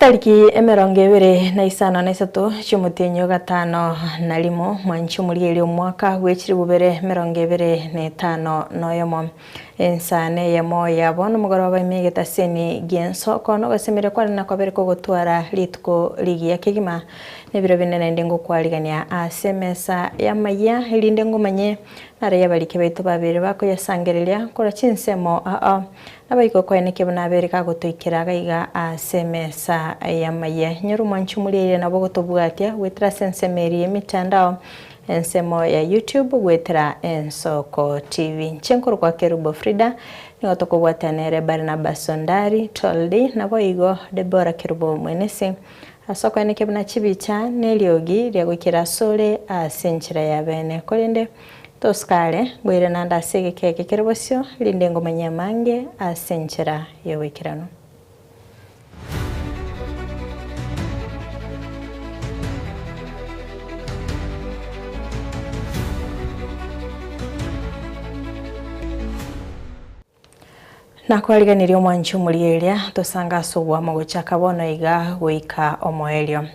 Chitariki emerongo ebere na isano na isato chi'omotienyi o gatano na rimo, mwanchi omorieri omwaka bw'echiribubere merongo ebere na etano na oyomo. Ensa neyemo yabo nomogoroba ime egeta semi gi'enso, okoo nogosemeria kware nakobere kogotwara rituko rigiya kegima. Nebiro binde naende ngokwarigania aase emesa y'amayia, erinde ngomanye naro y'abarike baito babere bakoyasangereria korwa chinsemo ao, nabaiko kwaye nekiabo nabere gagotoikera gaiga aase emesa y'amayia. Inyora omwanchwa omoria eira nabo ogotobwatia goetera ase ensemo eria y'emetandao, Ensemo ya YouTube goetera Ensoko TV. Inche nkorokwa Kerubo Frida, nigo tokobwatana nere Barnabas Ondari, Toldy, naboigo Deborah Kerubo Mwenisi. Ase okoyana ekibe na chibicha neriogi ria goikera asore ase enchera y'abene. Korende tosukare ngoirana ande ase egeka eke kere bosio, rinde ngomanye amange ase enchera y'oboikeranu. Nakwariganirie omwanchi omuria eria tosange ase oboamo gochaka bono iga goika omoerio.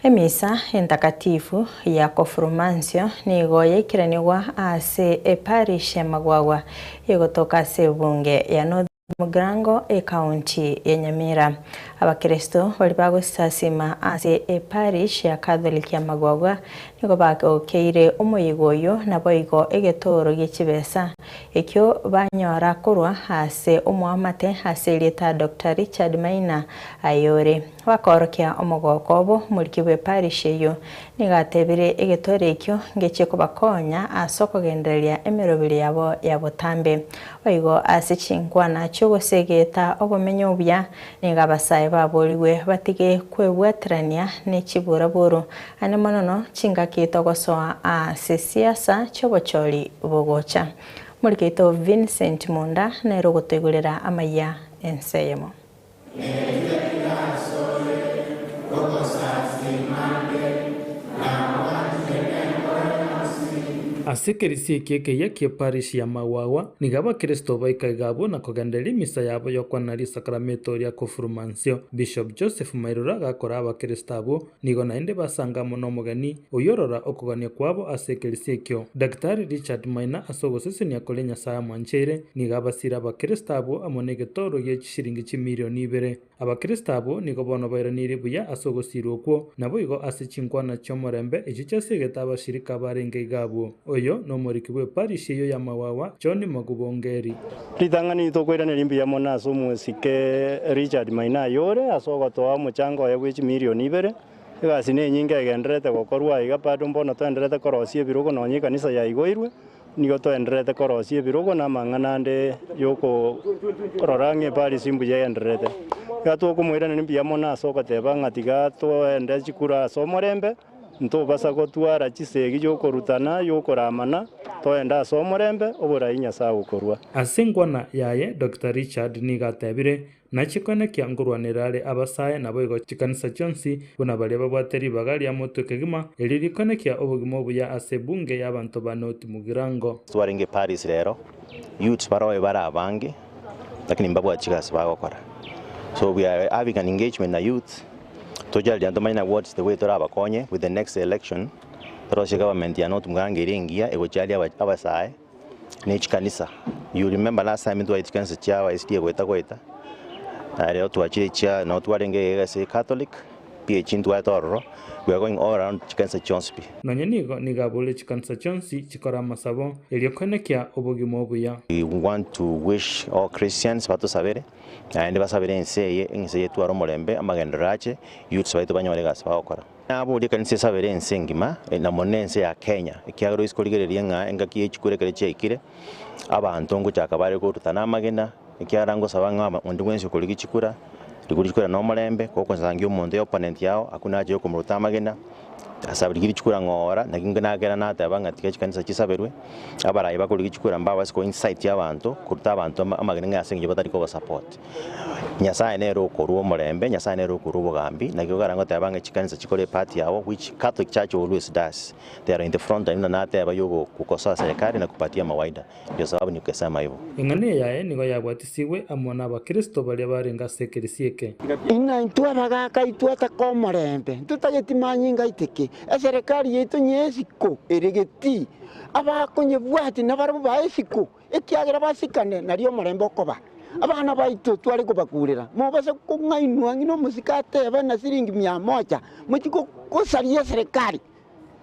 Emisa entakatifu ya Kofurmansio nigo yaikeranigwa ase eparish ya Magwagwa, igotoka ase ebunge ya Northern. Mogirango y'Ekaunti ya Nyamira, Abakristo baria bagosasima ase eparish ya Catholic ya Magogwa nigo bagokeire omoyega oyio naboigo egetooro gi'echibesa ekio banyora korwa ase omoamate ase erieta Doctor Richard Maina ayore Bakaorokia omogooko obo omoriki bw'eparishia eyio. Nigo atebirie egetore ekio ngechie kobakonya ase okogendereria emeroberio yabo ya botambe. Boigo ase chinkwana chi'ogosegeta obomenyo obuya, nigo abasae baborigwe batige kwebwaterania ne chiburaburu, aane monono chingaki togosoa ase siasa chi'obochori bogocha. Omoriki oito Vincent Munda nere ogotoigorera amaiya ense eyemo. Ase ekerisio eke ekeyia ki'eparishi ya Magwagwa, nigo abakristo baikaga abwo na kogendereria emisa yabo y'okwanera risakarameto ria Kofurumansio. Bishop Joseph Mairoro agakora abakristo abwo Nigo naende basangamwa nomogeni oyorora okogania kwabo ase ekeresia ekio. Daktari Richard Maina ase ogosesenia koria Nyasae amwancheire, nigo abasire Abakristo abwo amo negetooro gie chisiringi chimirioni ibere. Abakristo abwo nigo bono bairaneiri buya ase ogosirwa okwo, naboigo ase chinkwana chi'omorembe echio chiasegete abashirika abarenge iga abwo. Oyo nomoriki bw'eparish eyio ya Mawawa, John Magubongeri. Ritang'ani rito okoirana rimbuya mono ase omosike Richard Maina ayore ase ogotoa omochango oye bwe chimilioni ibere. Egasi nenyinge egendererete gokorwa aiga bado mbono toendererete korosia ebirogo nonya ekanisa yaigoirwe nigo toendererete korosia ebirogo na amang'ana ande yokorora ng'a eparisi mbuya egendererete. Iga twokomoiraneria mbuya mono ase ogoteba ng'a tiga toende chikura ase omorembe. Ntobasa gotwara chisegi y'okorutana y'okoramana, toende ase omorembe, oborai Nyasae agokorua. Ase engwana yaye Doctor Richard nigo atebire, Nache koenekia ngorwanera are abasae naboigo chikanisa chionsi buna baria babwate ribaga ria motwe kegima, erio rikoenekia obogima obuya ase ebunge y'abanto ba North Mugirango. Twarenge Paris rero, youths baroyo bare abange, Lakini mbabwati chigasi bagokora so we are having an engagement na youth tochariria ntomanye na what's the way torabakonye with the next election torosie government ya not Mugirango eria engiya egocharia aba- abasae ne chikanisa you remember last time ntwaetie chikanisa chia aba SDA goeta goeta na rero twachire chia no twarenge egasi ya Catholic pi echi ntwarete ororo, we are going all around chikanisa chionsi pi. Nonya nigo nigo abore chikanisa chionsi chikore amasabo, erio koenekia obogima obuya. We want to wish all Christians batosabere, naende basabere ense eye, ense eye etware omorembe, amagenderero ache, youths baito banyore egasi bagokora. Naborie ekanisa esabere ense engima, na mono ense ya Kenya, ekiagera oise korigereria ng'a engaki ye chikura ekero chiaikire, abanto ngochaka bare korutana amagena, ekiagera ngosaba ng'a aba onde bwensi okorigia chikura, rigori chikura na omorembe, gokosangia omonto ya opponent yao, hakuna haja ya okomoruta amagena, ase abwo rigia richikura ng'oora, naki inke nagera nateba ng'a tiga chikanisa chisaberwe, abarai bakorigia chikura mbabe ase koincite abanto, koruta abanto ama amagena ng'a ase eng'encho batari kobasupport. Nyasaye nere okorua omorembe, Nyasaye nere okorua obogambi, naki ogokara goteba ng'a chikanisa chikore epart yabo, which Catholic church always does. They are in the front line, buna nateba igo gokosoa serikali na kupatia mawaida, ndio sababu nikukesema ivo. Eng'ana eyaye nigo yabwatisigwe amo n'Abakristo baria barenge ase ekeresia eke. Inga intwe abagaaka aitwe ataka omorembe, intwe tageti manyinga aite ki? Eserekari yaito nye esiko ere geti? Abakonyebwati nabarabwo bae esiko, ekiagera basikane, nario omorembe okoba. Abana baito tware kobakurera, mobase kong'ainwa ng'ina omosike atebe na siringi mia moja, mochie gosaria eserekari.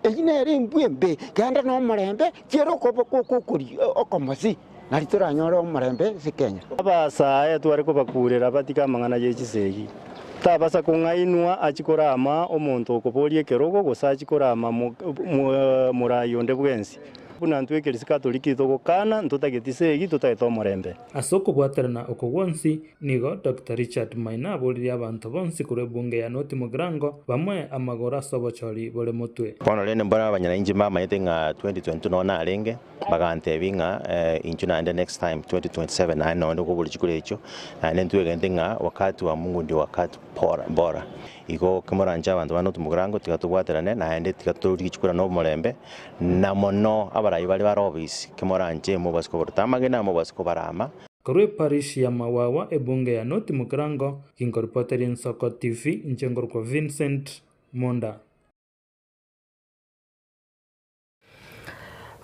Eyio nere embwe embe, genda nomorembe, chiera okobe kokokoria okomosi, nari toranyore omorembe ase Kenya. Abaasaae tware kobakuurera abatige amang'ana ye chisegi. Tabasa kong'ainwa achi korama omonto okoboria ekerogo gose achi korama morai onde bwensi. Buna intwe ekerisio Katoliki togokana, ntotageti isegi, totagete omorembe. Ase okobwaterana oko gwonsi, Nigo Doctor Richard Maina aboririe abanto bonsi korwa ebunge ya North Mugirango bamoe amagoro ase obochori bore motwe. Bono rende mbwene abanyainchi mbamanyete ng'a 2022 nonya narenge, bagantebia ng'a inchuo naende next time 2027 naende nonya onde kobua richiku ri'echo, naende ntwegenete ng'a wakati wa Mungu ndio wakati bora bora. Igo kimoranche abanto ba North Mugirango tiga tobwaterane naende tiga tororigwe richiku riane omorembe, na mono abarai bare bare obisi, kimoranche mobasie kobaruta amagena, mobasie kobara ama, Korwa eparish ya Mawawa ebunge ya North Mugirango, ginkoripoteria Nsoko TV inche nkorokwa Vincent Munda.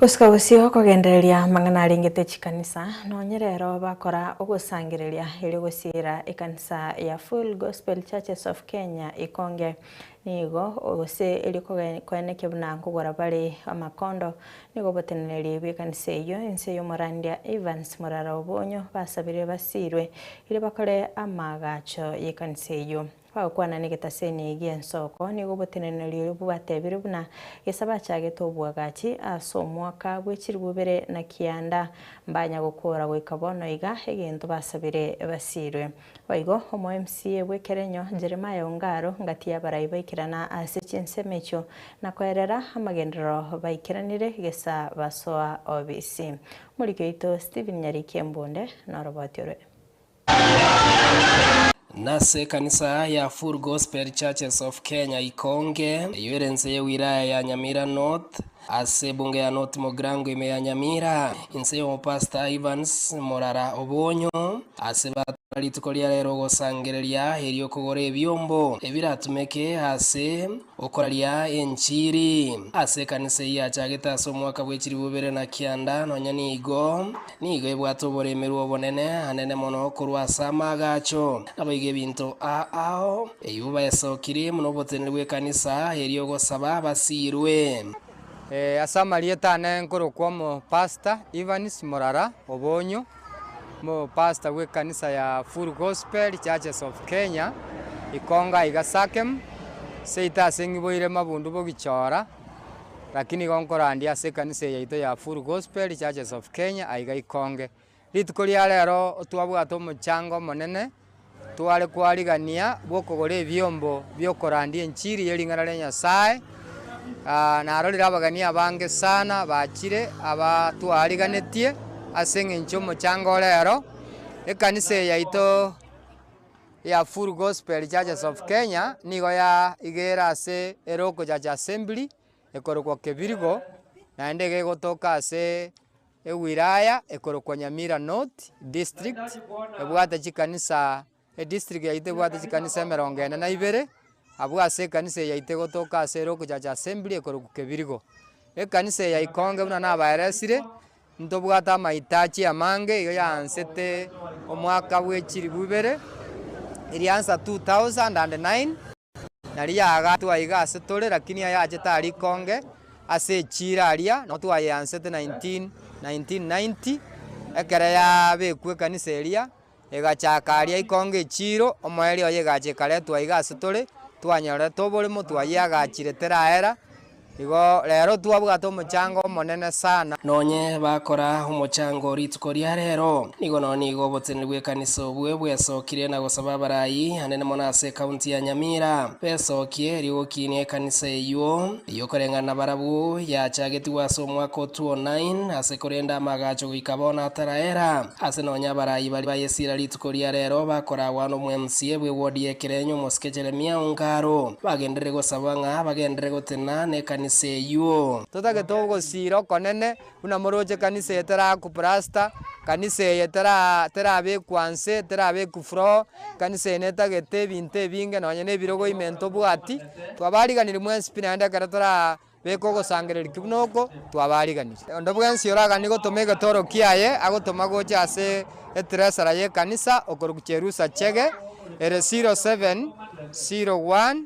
Gosika gosio kogendereria amang'ana arengete chikanisa, nonye rero bakora ogosangereria erio gosiira ekanisa ya Full Gospel Churches of Kenya Ikonge nigo gose erio koene kebuna nkogora bare amakondo Nigo botenenerie bw'ekanisa eyio, ense y'omorandia Evans morara obo onyo basabire basiirwe, ere bakore amaagacho y'ekanisa eyio. Bagokwana negetaseni gi'ensoko, nigo botenenerie oyo bwatebire buna gesa bachagete obwagachi ase omwaka bwe chiribu ibere na kianda, mbanya gokora goika bono iga egento basabire basiirwe. Boigo omoMCA bwe Kerenyo, Jeremiah Ongaro, ngatiya abarai baikerana ase chinsemo echio na koerera amagenderero baikeranire gesa basoa obisi. Omoriki oito Stephen Nyariki Embunde noroboti orwe. Nase ekanisa ya Full Gospel Churches of Kenya Ikonge, eyo ere nse ye wilaya ya Nyamira North, Ase ebunge ya North Mogrango ime ya Nyamira, inse y'omopastor Evans Morara Obonyo, ase batara rituko ria rero ogosangereria eri'okogora ebiombo ebiratumeke ase okoraria enchiri ase ekanisa eyio yachagete ase omwaka bw'echilifu bibere na kianda, nonya nigo Nigo ebwate oboremerwa obonene anene mono korwa ase amaaga acho. Naboigo ebinto aa ao, eyuo baesokiri buna oboteneri bw'ekanisa eria ogosaba basiirwe. Ase amarieta ane nkorokwa omo Pastor Evans Morara Obonyo, omo Pastor bw'ekanisa ya Full Gospel Churches of Kenya, Ikonga iga Sakem, seito ase ng'iboire mabundu bogichora. Lakini igo nkorandia ase ekanisa eye yaito ya Full Gospel Churches of Kenya aiga ikonge. Rituko ria rero twabwate omochango omonene tware kwarigania bw'okogora ebiombo bi'okorandia enchiri ye ring'ana ria Nyasae, ah, narorire abageni abange sana bachire aba twariganetie ase eng'encho y'omochango o rero. Ekanisa eye yaito. ya Full Gospel Churches of Kenya nigo ya igere ase eloko church assembly ekorokwa Kebirigo naende iga egotoka ase ewilaya ekorokwa Nyamira North district ebwate chikanisa edistrict yaito ebwate chikanisa emerongo ene na ibere abwo ase ekanisa eye yaito egotoka ase eloko church assembly ekorokwa Kebirigo. Ekanisa eye yaikonge buna nabaeresire. Ntobwate amaitachi amange iga yaansete omwaka bwe chilifu ibere, eria nsa 2009, naria yaagaatwa iga ase tore, lakini aya aachete a rikonge ase echiira aria nao twayeansete 1990 ekero yaabekwa ekanisa eria. Egachaka aria ikonga echiiro, omoerio oye egacha ekaretwa iga ase tore, twanyorete obore motwe ayio agachire teraera, igo rero twabwate omochango omonene sana. Nonye bakora omochango rituko ria rero, nigo nonya nigo oboteneri bw'ekanisa obwe bwesokire na gosaba abarai anene mono ase ekaunti ya Nyamira besokie rigokinia ekanisa eyuo. Y'okoreng'ana nabarabwo yachagetigwe ase omwaka o 209 ase korenda amagacho goika bono ataraera, ase nonya abarai baria ba Yesira rituko ria rero bakoragwa n'omweMCA bwe ward y'ekerenyo omosike Jeremiah Ongaro, bagenderere gosaba ng'a bagenderere gotena nekanisa eyuo. Totageto ogosiira okonene Buna moroche kanisa eye terakuplasta, kanisa eye tera terabekwa nse, terabekwa froho, kanisa eye netagete ebinto ebinge nonye ne ebirogo ime ntobwati, twabariganiri mwensi pi naende ekero tara beka ogosangereria ki buna oko, twabariganiri. Onde bwensi oraganie gotoma egetoro kiaye, agotoma gocha ase etresara y'ekanisa, okorokwa Cherusa Chege, ere 07, 01.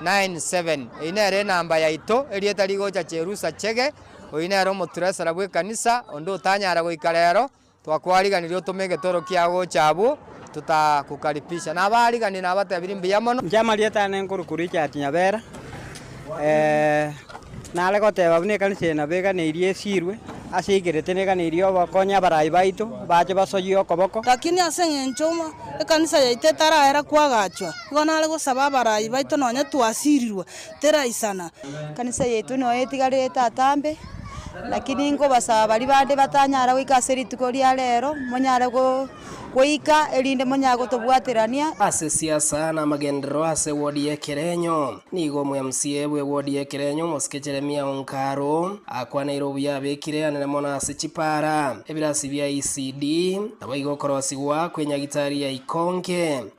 079897. Eyio nere enamba yaito, erieta rigocha cherusa chege. Oyio nere omoturesera bw'ekanisa, onde otanyara goika rero. Twakwariganirie otome egetoro kia gocha abwo totakukaribisha. Na abaariganirie nabatebirie, Mbuya mono. Inche amarieta aane nkore korwa echiati nyabera, nare goteba buna ekanisa eye nabo eganeirie esiirwe, ase eigerete neganeirie obokonye abarai baito, bache basoyie okoboko. Lakini ase engencho ekanisa yaito etaraera kwagachwa, nigo nare gosaba abarai baito nonye twasiirirwe Tera isana. Ekanisa yaito noyo etigare etatambe, lakini nkobasaba baria bande batanyara goika ase rituko ria rero, monyare go goika erinde monyare gotobwaterania. Ase siasa na amagenderero ase wodi ya Ekerenyo, nigo omwMCA bwe wodi ya Ekerenyo omosike Jeremia Onkaru akwaneire obuya abekire anene mono ase chipara, ebirasi bia ECD, naboigo okorosigwa kwenyagitari ya Ikonge.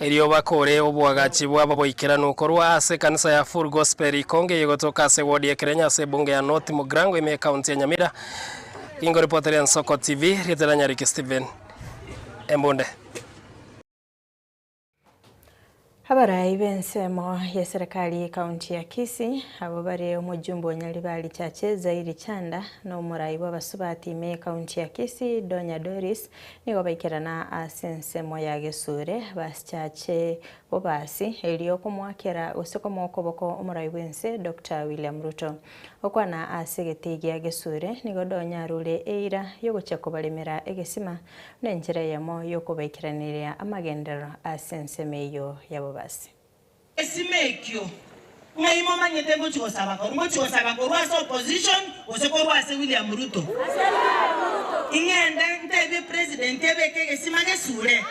Erio bakore oboagachi bw'ababoikeranu korwa ase ekanisa ya Full Gospel Ikonge eye egotoka ase ward ya Kirenya ase ebunge ya North Mugrango ime ekaunti ya Nyamira. Ingoripotera Ensoko TV, rieta riane Ricky Steven Embunde. Abarai b'ensemo y'eserekari y'ekaunti ya Kisii abwo bare omojumbe o Nyaribari Chache Zairi Chanda na omorai bw'abasubati ime ekaunti ya Kisii Donya Doris Nigo baikerana ase ensemo ya gesure, basichache bobasi, erio komoakera gose komoa okoboko omorai bw'ense Doctor William Ruto. Okwana ase egetei gia gesure nigo donyarure eira yogochia kobaremera egesima buna enchera eyemo yokobaikeraneria amagenderero ase ensemo eyio ya bobasi. Egesima ekio, ng'ai momanyete ngochia gosaba korwa? Ngochia gosaba korwa ase opposition gose korwa ase William Ruto? Ing'ende ntebie president ebeke egesima gesure?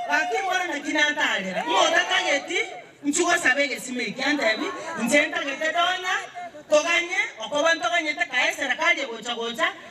Gaki mbore naki natarera, ng'a otatageti nchi gosaba egesima eki antebi inche ntagete donya toganye okoba ntoganyete kae serekari egocha gocha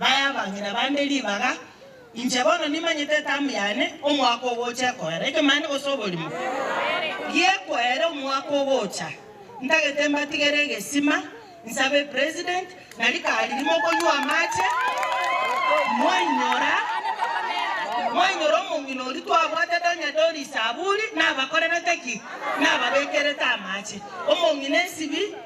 Baye abang'ina bande ribaga, inche bono nimanyete etamu yane omwaka ogocha ekoera ekemanto gose oborimo gi'ekoera omwaka ogocha. Ntagete mbatigere egesima, nsabe president, na rikari rimo okonywa amache, mwainyora, mwainyora omong'ina oria twabwatete onye Doris Aburi nabakorerete ki? Nababekerete amache. Omong'ina esibi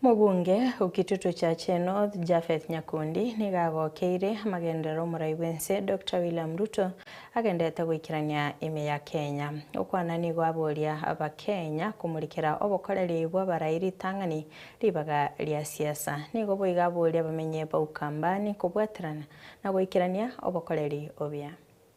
Omobunge o Kitutu Chache North, Japheth Nyakundi, nigo agokeire amagenderero omorai bw'ense Dokita William Ruto agenderete goikerania ime ya Kenya. Okwana nigo aboria Abakenya komurikera obokoreri bw'abarai ritang'ani ribaga ria siasa. Nigo boigo aboria abamenyi ba Ukambani kobwaterana na goikerania obokoreri obuya.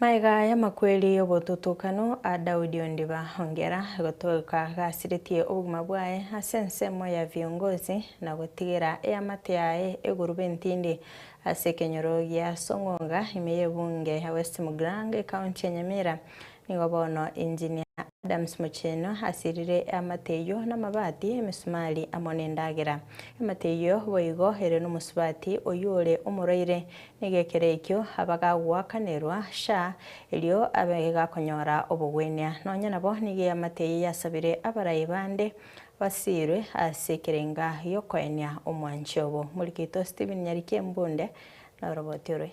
Magega y'amakweri y'obotutukano a Daudi ondiba, ongera gotoka gasiretie obogima bwaye ase ensemo ya viongozi, na gotigera eamate yaye eguruba entindi ase ekenyoro gia Song'onga, ime y'ebunge ya West Muglang, ekaunti ya Nyamira, Nigo bono Engineer Adams Mucheno asirire eamate eyio namabati, emesumari amo nendagera. Eamate eyio boigo ere nomosubati oyio ore omoroire. Nigo ekero ekio abagagoakanerwa sha erio abegakonyora obogwenia. Nonya nabo nigo eamate eyio yasabire abaraai bande basiirwe ase ekerenga giokoenia omwanchi obo. Morikito Stephen Nyariki Embunde na oroboti orwe.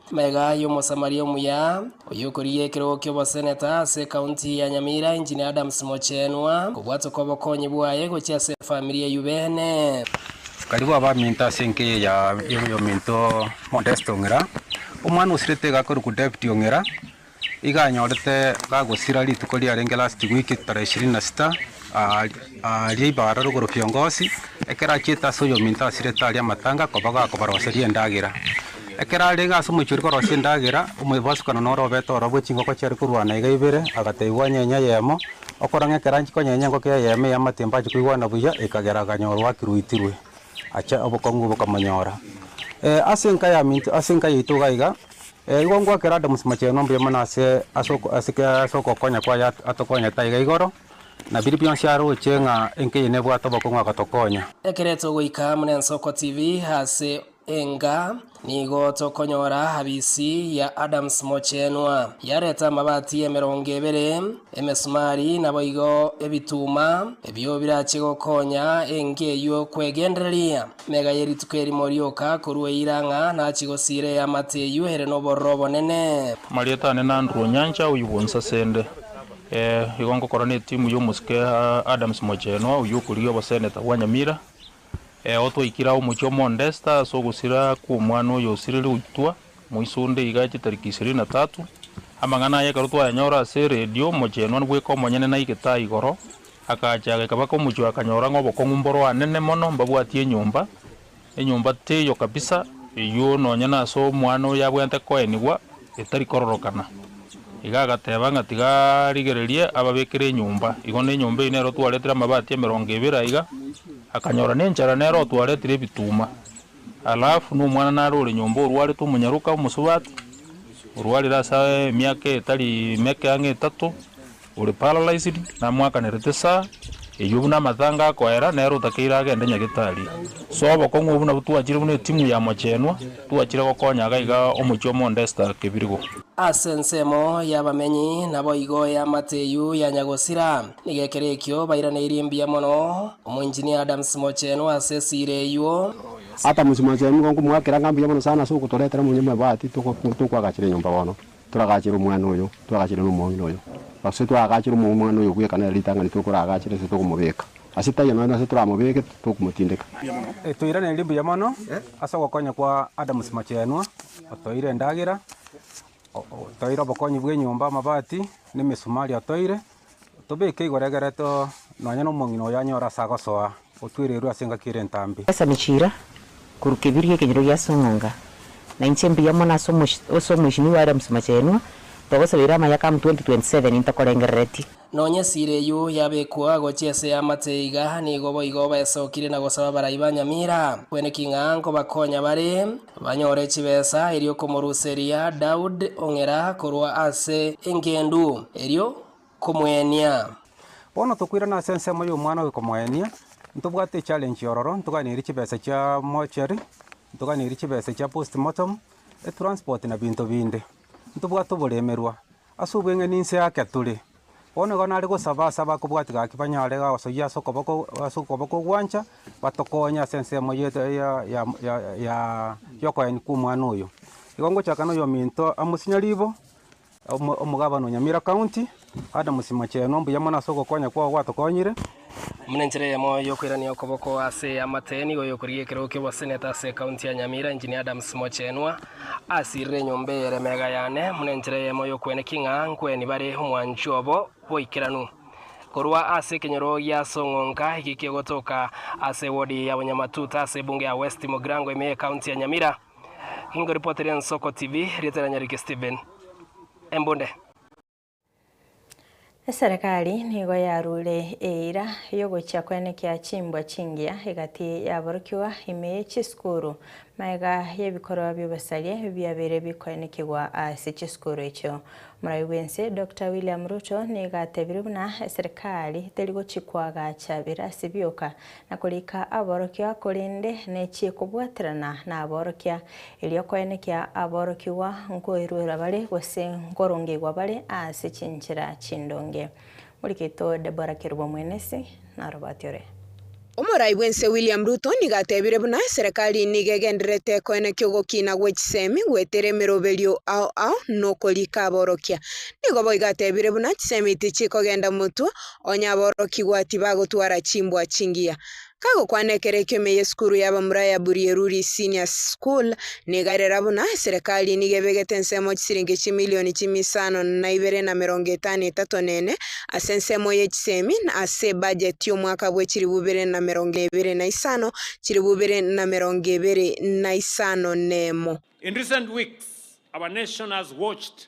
Maiga ayio Omosamaria omuya, oyokorigia ekerogo ki'oboseneta ase ekaunti ya Nyamira, Engineer Adams Mochenwa, kobwatoka obokonyi bwaye gochia ase efamiri eyio beene. Karibu abaminto ase enkeya ya y'ominto Modest Ong'ira, omwana osirete iga akorokwa David Ong'ira, Iga anyorete gagosira rituko riarenge last week tarehe ishirini na sita aaria ibara rogoro kiongozi ekero achiete ase oyominto asirete aria amatanga koba gakobaroseria endagera ekero arenge ase omochie oria korosia endagera omoibasukano noro obete orobwo chingoko chiare korwana iga ibere agatebiwa onyenye eyemo okore ng'a ekero anchia konyenye engoko eyemo eya amatimba achia koigwana buya ekagera akanyorwa akiruitirwe ache obokong'u bokamonyora ase enka yaminto ase enka yaito iga iga. Ee, igo ngoakera Adamu mochenu ombuya mono ase ase oko- ase ke- ase ogokonya kwaye at- atokonyete aiga igoro, na biria bionsi aroche ng'a enkenyoro nebwate obokong'u agotokonya. Ekereto goika muna Ensoko TV ase enga nigo tokonyora habisi ya Adams Mochenwa. Yareta amabati emerongo ebere, emesumari naboigo ebituma ebio birache gokonya enga eyio kwegendereria. Mega ye rituko erimo rioka korwa eira ng'a nachi gosiira eamate eyio ere nobororo obonene. Amarieta ane n'Andrew Onyancha oyio bwonsi asende. Ee, igo ngokora netimu y'omosike Adams Mochenwa oyio okorigia oboseneta bwa Nyamira. Ee, otwaikire ao omochie o Mondesta ase ogosira kw'omwana oyo osiriri goitwa. Moiso onde iga aeche tariki ishirini na tatu, amang'ana aye ekero twayanyora ase eredio, omochenwa bweka omonyene naigete aa igoro, agacha agaika baka omochie oye akanyora ng'a obokong'u mboro anene mono mbabwatie enyomba, enyomba teiyo kabisa, eyuo nonye nase omwana oyo abwenerete koenigwa etari kororokana. Iga agateba ng'a tiga arigererie ababekere enyomba, igo na enyomba eyio nero twaretire amabati emerongo ebere aiga, akanyora nenchara nere otwaretire ebituma. Alafu nomwana nare ore nyomba orwarete omonyaroka omosubati, orwarire ase emiaka etari meke ang'e etato, ore paralyzed, namoakanerete saa eyio buna amatanga akoera, nere otakeire agende nyagetari. So obokong'u obwo nabwo twachire buna etimu ya mochenwa, twachire gokonya iga iga omochie omo onde Esther Kebirigo. Ase ensemo y'abamenyi naboigo eamate eyio yanya gosira. Nigo ekero ekio bairaneirie mbuya mono omoinjinia Adams mochenu ase esira eyio. Adams mochenu nigo nkomoakera ng'a mbuya mono sana ase ogotoretera omonyamabati tokoagachera enyomba bono. Toragachere omwana oyo, toragachere nomong'ina oyo, gose toragachere omong'ina oyo bweka nere ritang'ani tokoragachere ase tokomobeka ase tai enono ase toramobeke tokomotindeka. Toiraneiri mbuya mono ase ogokonya kwa Adams mochenu otoire endagera, otoire obokonyi bw'enyomba, amabati, na emesumari otoire. Tobeke igoro egere to, nonya nomong'ina oyo anyore ase agosoa, otwererwe ase engaki ere entambe. Esa ne chiira, korwa kebirio ekenyoro gia ase eng'onga, na inche mbuya mono ase ase Omoisinigwa are Omosimachenwa, togosabeire amayaka amo 2027 intokorengerereti. Nonya esiira eyio yabekwa gochia ase y'amate iga, nigo boigo baesokire na gosaba abarai ba Nyamira. Kweneki ng'a nkobakonya bare, Banyore chibesa erio komoruseria Daud ong'era korwa ase engendu erio komoenia. Bono tokoirana ase ensemo y'omwana oyo komoenia, ntobwate echallenge ororo, ntoganeiri chibesa chia mortuary, ntoganeiri chibesa chia post mortem, etransport na binto binde. Ntobwate oboremerwa, Ase obweng'eni inse yake tore. Bono igo nare gosaba ase abakobwatia gaki banyare gosoyia ase okoboko ase okoboko ogwancha, batokonye ase ensemo ye ya ya y'okoyani kw'omwana oyo. Igo ngochaka noyominto Amos Nyaribo, omo omogabana o Nyamira County, Adams Machenu, mbuya mono ase ogokonya kwao gwatokonyire. Buna enchera eyemo y'okoirania okoboko ase amateeni, nigo oyokorigia ekerogo ki'oboseneta ase ekaunti ya Nyamira, Engineer Adams Mochenwa, asirire enyomba eye ere mega yane, buna enchera eyemo y'okweneki ng'a nkweni bare omwancho obo bw'oikeranu. Korwa ase ekenyoro gia Song'onka, ekiki egotoka ase ewodi ya Bonyamatuta ase ebunge ya West Mugirango ime y'ekaunti ya Nyamira. Ingoripotiri Ensoko TV, rieta riane rike Stephen Embunde. Eserekari nigo yaruure eira y'ogochia kwenekia chimbwa chingiya egati y'aborokigwa ime ye chisukuru. Magega y'ebikorwa bi'obosaria ebio biabeire bikoenekigwa ase chisukuru echio. Morai bw'ense Dokita William Ruto nigo atebirie buna eserekari teri gochia koagacha birasi bioka, na korika aborokia, korende nechie kobwaterana naborokia, erio koenekia aborokigwa nkoeruera bare, gose nkorongeigwa bare ase chinchera chindonge. Morigeto Deborah Kerubo Mwenesi narobati ore. Omorai bw'ense William Ruto nigo atebire buna serekari nigo egendererete koenekia ogokina gwe chisemi goetera emeroberio ao ao nokorika aborokia. Nigo boigo atebire buna chisemi tichikogenda motwe Onye aborokigwa tibagotwara chimbwa chingiya. Kagokwana ekero ekiomia y'esukuru y'abamura ya Burieruri Senior School, nigo erera buna Serikali nigo ebegete ensemo chisiringi chimilioni chimia isano na ibere na emerongo etano etato na ene ase ensemo ye chisemi na ase ebajeti y'omwaka bwe chilifu ibere na emerongo ebere na isano chilifu ibere na emerongo ebere na isano na emo. In recent weeks, our nation has watched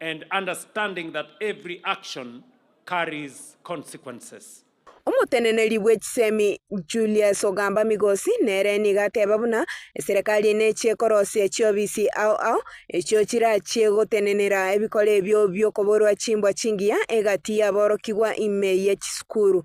And understanding that every action carries consequences. Omoteneneri bwe chisemi Julius Ogamba Migosi nere nigo ateba buna eserekari nechie korosia chiobisi ao ao echio chirachie gotenenera ebikoro ebio biokoborwa chimbwa chingiya egati yaborokigwa ime ye chisukuru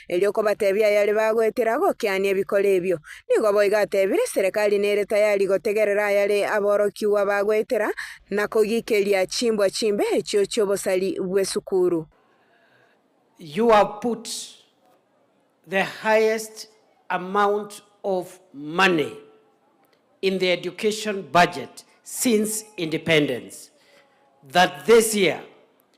Erio kobatebia ayare bagoetera gokiania ebikoro ebio. Nigo boigo atebire serekari nere tayari gotegerera ayare aborokigwa bagoetera na kogikeria chimbwa chimbe echio chi'obosari bw'esukuru. You have put the highest amount of money in the education budget since independence that this year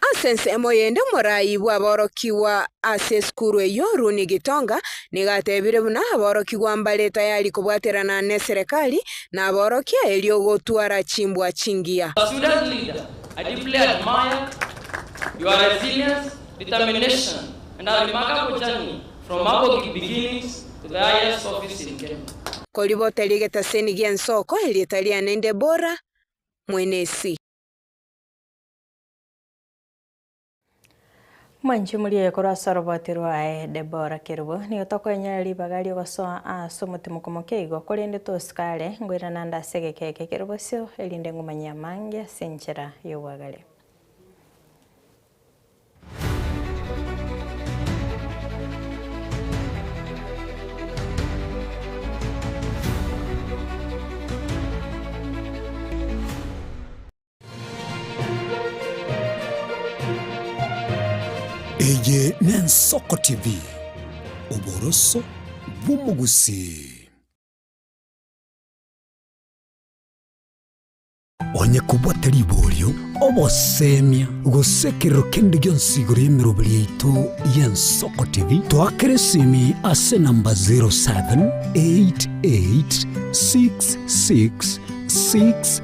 Ase ensemo yende omorai bw'aborokigwa ase esukuru eyio Runi Gitonga nigo atebirie buna aborokigwa mbare tayari kobwaterana neserekari na aborokia erio gotwara chimbwa chingiya. Our student leader, I deeply admire your resilience, determination and a remarkable journey from Mabogi beginnings to the highest office in Kenya. Koribota ri'egetaseni gi'ensoko, Erieta riane nde Bora, Mwenesi. Mwanche morie korwa ase oroboti rwaye Debora kerubo, nigo tokoenyora ribaga ri'ogosoa aase omotimoko moke igo, korende tosikare ngoiranande ase egeka eke kere bosio, erinde ngomanye amange ase enchera y'obwagare. Eye n'Ensoko TV, oboroso bw'omogusii. Onye kobwate riborio, obosemia, gose ekerero kende gionsi igoro y'emeroberi yaito y'Ensoko TV, toakera esimi ase enamba 07886666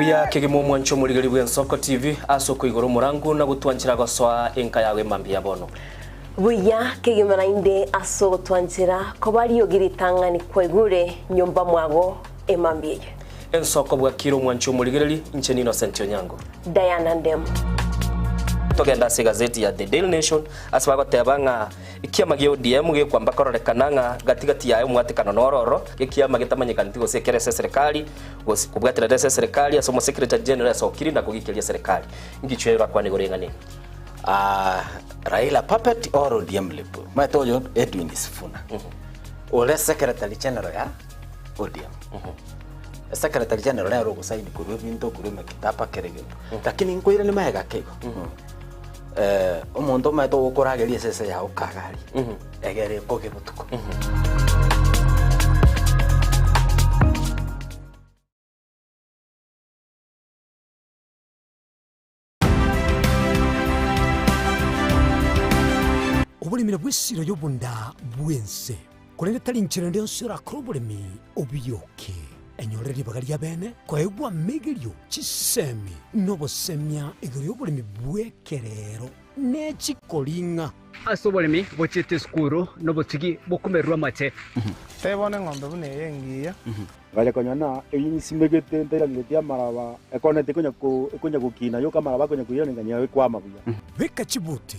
Buya kegima omwanche omorigeri bw'Ensoko TV ase okoigora omorango na gotwanchera gosoa enka yago emambia ya bono. Buya kegima naende ase ogotwanchera koba riogi ritang'ani kwaigure nyomba mwago emambia eye. Ensoko bwakire omwanche omorigereri, inche n'Innocent Onyango. Diana Ndemu. Togenda ase egazeti ya The Daily Nation ase bagoteba ng'a Ekiama gia ODM gekwamba kororekana ng'a gati gati yaye omwatekano noro oro gekiama getamanyekaneti gose ekero ase eserekari gose kobwaterana ase eserekari ase omosekretari general esokiri na kogikeria eserekari. Ngicho ero akwane igoro eng'ani eye. Raila puppet or ODM lip? Omanyete oyo Edwin Sifuna ore secretary general ya ODM. Esecretary general nere ogosign korwa ebinto korwa emekitaba kera egento. Lakini nkoirani magega keigo. Ee, omonto omaete ogokorageria esese yao kagari, egere ekoge botuko. Oboremire bw'esira y'obonda bw'ense. Korende tari inchera ende yonsi erakore oboremi obuyoke, enyore ribaga ri'abeene koegwa amegerio, chisemi, na obosemia igoro y'oboremi bw'ekereero ne chikoring'a. Ase oboremi bochiete esukuru na obotigi bokumererwa amache. Tebe bono eng'ombe buna eye engiya. Bare konya na eyio nyisimegete ntairangeretie amaraba, ekona ete ekonya gokina yoka amaraba akonya koirana enganya yao ekwama buya. Beka chibuti.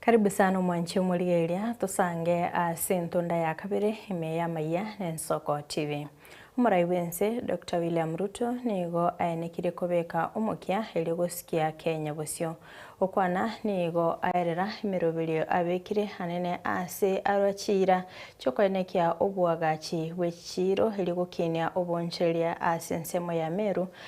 Karibu sana omwanche omorigereria tosange ase entunda ya kabere ime y'amaiya na Ensoko TV. Omorai bw'ense Doctor William Ruto nigo aenekire kobeka omokia erio gosikia Kenya bosio. Okwana nigo aerera emeroberio abekire anene ase arwa chiira chiokoenekia oboagachi bw'echichiiro erio gokinia obonchereria ase ensemo ya Meru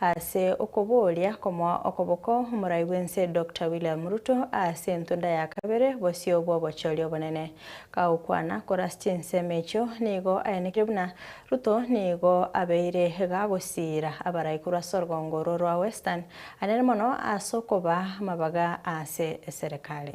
Ase okobooria komoa okoboko omorai bw'ense Doctor William Ruto ase entunda ya kabere bosio bw'obochori obonene kagokwana kore ase chinsemo echio, nigo aenekire buna Ruto nigo abeire iga agosiira abaraikorwa ase orgongo orwo rwa Western anene mono ase okoba amabaga ase eserekari.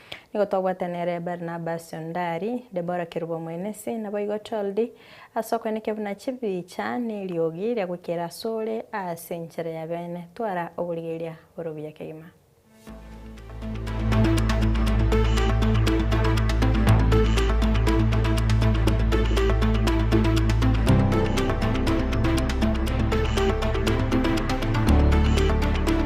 Nigo twabwate nere Barnabas onde aria, Debora kerubo omwenesi, naboigo Choldi, ase okwe nekebuna chibicha neriogi riagoikera asore aase enchera ya bene. Twara oborigeria bore obuya kegima.